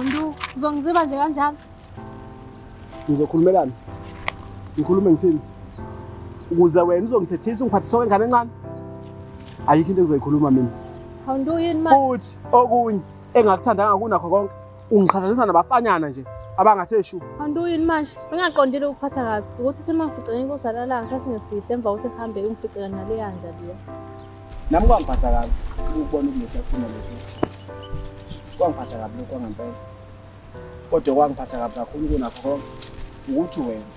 Ndu, uzongiziba nje kanjalo. ngizokhulumelana ngikhulume ngithini ukuze wena uzongithethisa ungiphathisa kwengane encane ayikho into engizoyikhuluma mina futhi okunye engakuthandanga kunakho konke ungiqhathanisa nabafanyana nje abangathi eshu anduyini manje bengaqondile ukuphatha kabi ukuthi semangificele inkosi alalanga sathi ngesihle emva kokuthi ngihambe ungificele naleya nja leyo nami kwangiphatha kabi ukubona ukulesa simo leso kwangiphatha kabi lokhu kwangempela kodwa kwangiphatha kabi kakhulu kunakho konke ukuthi wena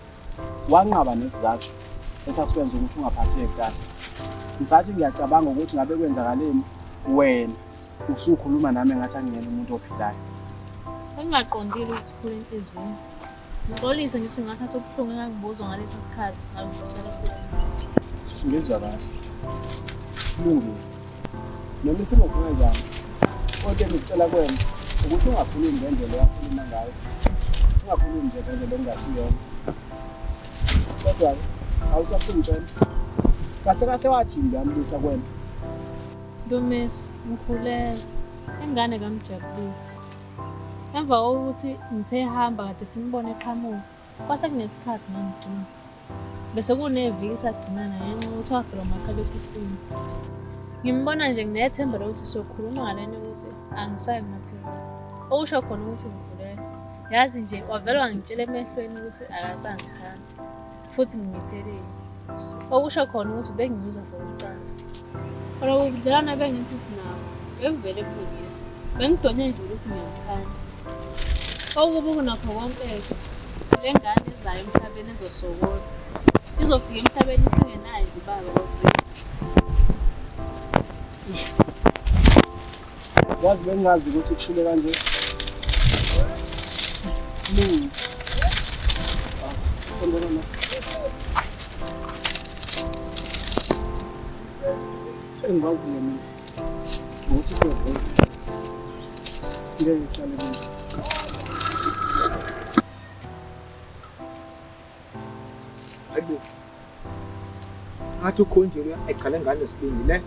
wanqaba nesizathu esasikwenza ukuthi ungaphatheki kahle ngisathi ngiyacabanga ukuthi ngabe kwenzakaleni wena usukhuluma nami ngathi angiyena umuntu ophilayo engingaqondile ukukhula enhliziyweni Ngixolise nje singathatha ubuhlungu engangibuzwa ngalesi sikhathi ngangifusela kuwe. Ngizwa kahle. Kulungile. Noma isimo singanjani? Kodwa engicela kwena ukuthi ungakhulumi ngendlela oyakhuluma ngayo. Ungakhulumi nje ngendlela engasiyona. Kodwa awusafungitshela. Kahle kahle wathi nje amlisa kwena. Ntomisi, ngikhulele. Ingane kamjabulisi. Emva kokuthi ngithe ehamba kade simbone eqhamuka, kwase kunesikhathi ngangigcina. Bese kuneviki sagcinana ngenxa yokuthi wavela umakhalekhukhwini. Ngimbona nje nginethemba lokuthi sokhuluma ngalento ukuthi angisayi kumaphiko. Okusho khona ukuthi ngikhulelwe. Yazi nje wavele wangitshela emehlweni ukuthi akasangithandi. futhi nginithelile okusho khona ukuthi benginyuza for ucansi kodwa ubudlelwane bengithi sinabo bengivele ebulungile bengidonye nje ukuthi ngiyamthanda okubi kunakho konke-ke le ngane izayo emhlabeni ezosokola izofika emhlabeni isingenayo ibaba Wazi bengazi ukuthi kushule kanje. Mini. Sondela na. Engazi yena. Ngokuthi siyabona. Ngeke hlale manje. Hayibo. Ngathi ukhonjele egcale ngane sibindi le.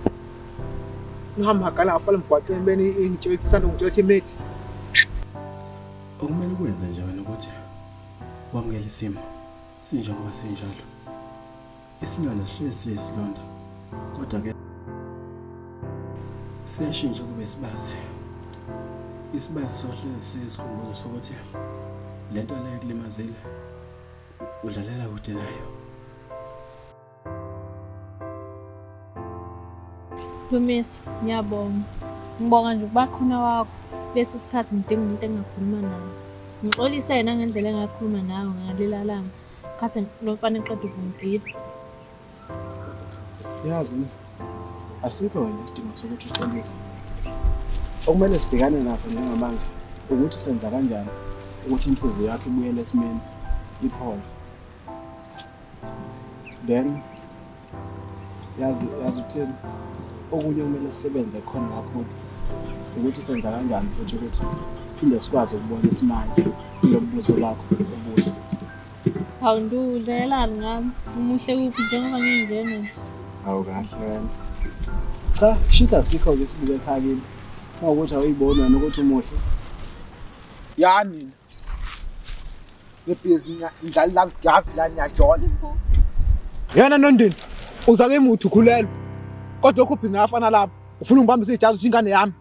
Uhamba gala afale mgwaqeni beni ingitshela ukuthi sanda ngitshela ukuthi imithi. Okumele ukwenze nje wena ukuthi wamukele isimo sinjengoba sinjalo. Isilonda sihlezi siyisilonda kodwa ke siyashintsha kube isibazi. Isibazi sohlezi siyisikhumbuzo sokuthi le nto leyo kulimazile udlalela kude nayo. Dumiso, ngiyabonga. Ngibonga nje ukuba khona wakho kulesi sikhathi ngidinga umuntu engakhuluma naye. Ngixolise yena ngendlela engakhuluma nayo ngaleli langa. Khathi lo mfana eqeda ukungigila. Yazi asikho wena isidingo sokuthi uxolise. Okumele sibhekane nakho njengamanje ukuthi senza kanjani ukuthi inhliziyo yakho ibuyele esimeni iphole. Then yazi yazi uthini okunye kumele sisebenze khona kakhulu ukuthi senza kanjani futhi ukuthi siphinde sikwazi ukubona isimanje kulobubuso bakho obuhle hawu ndiwudlalelani ngami umuhle kuphi njengoba ngingene hawu kahle wena cha shitha sikho-ke sibuke ekhakini uma ukuthi awuyiboni wena ukuthi umuhle yani yena nondini uza ke muthi ukhulelwe kodwa okho bhizinisi afana lapho ufuna ungibambisa ijazi uthi ingane yami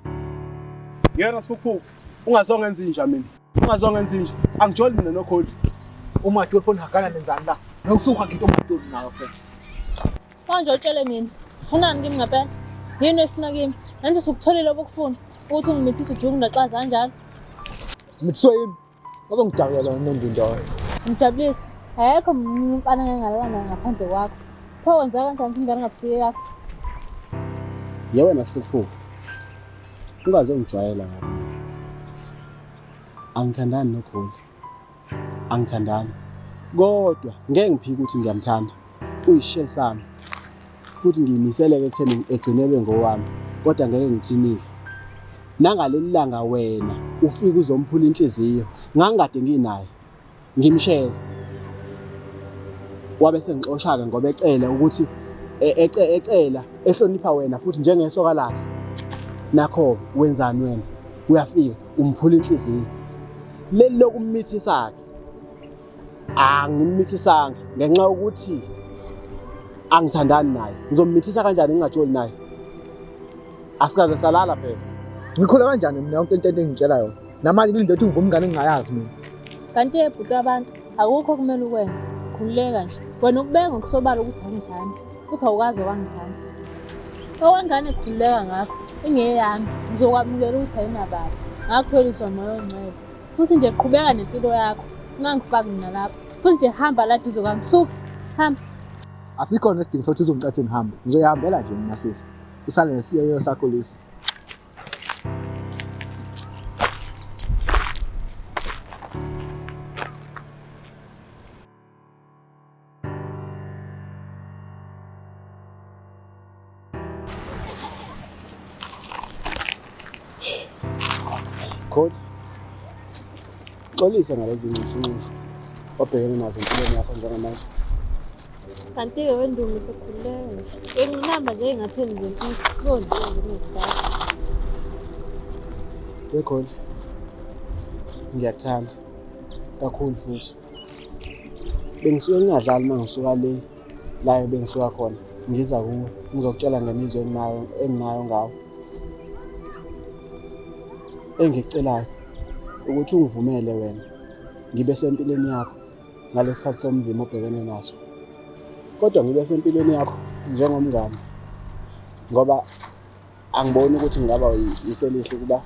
yena siphuphu ungazonge enze inja mina ungazonge enze inja angijoli mina nokholi umatsholi phona hakana nenzani la nokusuka ngito umatsholi nawo phela manje utshele mina ufunani kimi ngempela yini efuna kimi nenze sukutholile obukufuna ukuthi ungimithise ujungu ndaxaza kanjalo Ngithiwe yini? Bazongidakulela unondindwa wena. Ngijabulise. Ayekho umfana ngengalana ngaphandle kwakho. Pho wenza kanjani ukuthi ingane ngabusiye yakho? Ye wena sifufuku. Ungaze ungijwayela ngami. Angithandani noGoli. Angithandani. Kodwa ngeke ngiphike ukuthi ngiyamthanda. uyishem sami futhi ngiyimiseleke ekutheni egcinelwe ngowami kodwa ngeke ngithinile nangaleli langa wena ufike uzomphula inhliziyo ngangikade nginaye ngimshele wabe sengixosha-ke ngoba ecele ukuthi e-, e-, ecela ehlonipha wena futhi njengesoka lakhe nakho-ke wenzani wena uyafika umphula inhliziyo leli lokummithisa-ke angimithisanga ngenxa yokuthi angithandani naye ngizomithisa kanjani ngingajoli naye asikaze salala phela ngikhula kanjani mina yonke into engitshela yona namanje kulinde ukuthi ngivume ingane engingayazi mina kanti ebhuti abantu akukho kumele ukwenze khululeka nje wena ukubeka ngokusobala ukuthi awungithandi futhi awukaze wangithanda okwengane khululeka ngakho ingeyami ngizokwamukela ukuthi ayinababa ngakutholiswa moya ongcwele futhi nje qhubeka nempilo yakho ungangifaki mina lapho futhi nje hamba la duze kwami suka hamba asikhona isidingo sokuthi uzongicathe ngihambe ngizoyihambela nje mina sisi usale nesiyoyo sakho lesi Coach, xolisa ngalezi nxushunxushu obhekene nazo empilweni yakho njengamanje. Kanti-ke wendumo usekhulelwe. Benginamba nje engatheni nje kuyonziwa nje nezidala. Bekhona. Ngiyakuthanda kakhulu futhi. bengisuke ngingadlali uma ngisuka le layo bengisuka khona ngiza kuwe ngizokutshela ngemizwa enginayo enginayo ngawo engicelayo ukuthi ungivumele wena ngibe sempilweni yakho ngalesikhathi somzima obhekene naso kodwa ngibe sempilweni yakho njengomngane ngoba angiboni ukuthi ngingaba yiselihle ukuba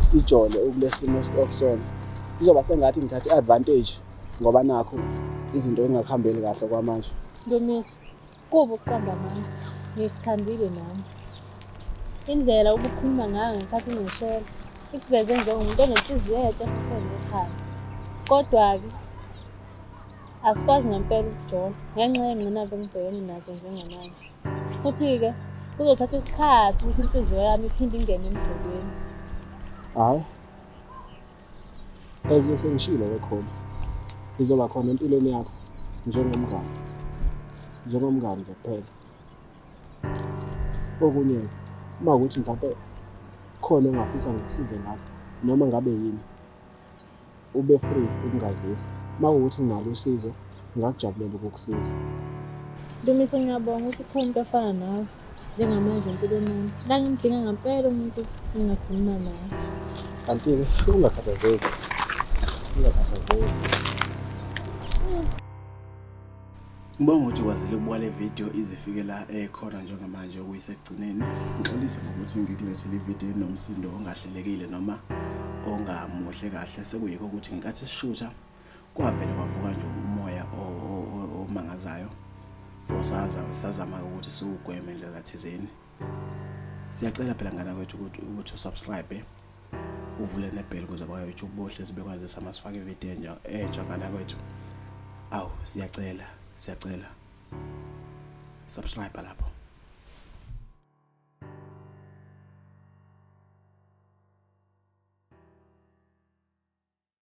sijole ukulesimo okusona kuzoba sengathi ngithatha i-advantage ngoba nakho izinto engakuhambeli kahle kwamanje ndumiso kuba ukuqamba mami ngikuthandile nami indlela ubukhuluma ngayo ngekhathi ngishela ikuveze njengomuntu onenhliziyo yedwa futhi ekhaya kodwa-ke asikwazi ngempela ukujola ngenxa yengqinamba engibhekene nazo njengamanje futhi-ke kuzothatha isikhathi ukuthi inhliziyo yami iphinde ingene emdlelweni hhayi as bese ngishilo ke khona ngizoba khona empilweni yakho njengomngane njengomngane nje kuphela okunye uma ukuthi mhlawumpe khona ongafisa ngikusize ngakho noma ngabe yini ube free ukungazisa uma kuwukuthi nginalo usizo ngingakujabulela ukukusiza Dumiso ngiyabonga ukuthi khona umuntu afana nawe njengamanje empilweni yami la ngimdinga ngampela umuntu engakhuluma naye kanti-ke ungakhathazeki ungakhathazeki Ngibonga ukuthi ukwazile ukubuka le video izifike la ekhona eh, njengamanje okuyisekugcineni. Ngixolise ngokuthi ngikulethele ivideo enomsindo ongahlelekile noma ongamuhle kahle sekuyikho ukuthi ngenkathi sishutha kwavele kwavuka nje umoya omangazayo. So saza sazama ukuthi siwugweme ndlela thizeni. Siyacela phela ngana kwethu ukuthi usubscribe uvule nebheli kuze bayoyitsho ukubohle sibekwazisa uma sifake ividiyo enja entsha ngana kwethu awu siyacela siyacela subscribe lapho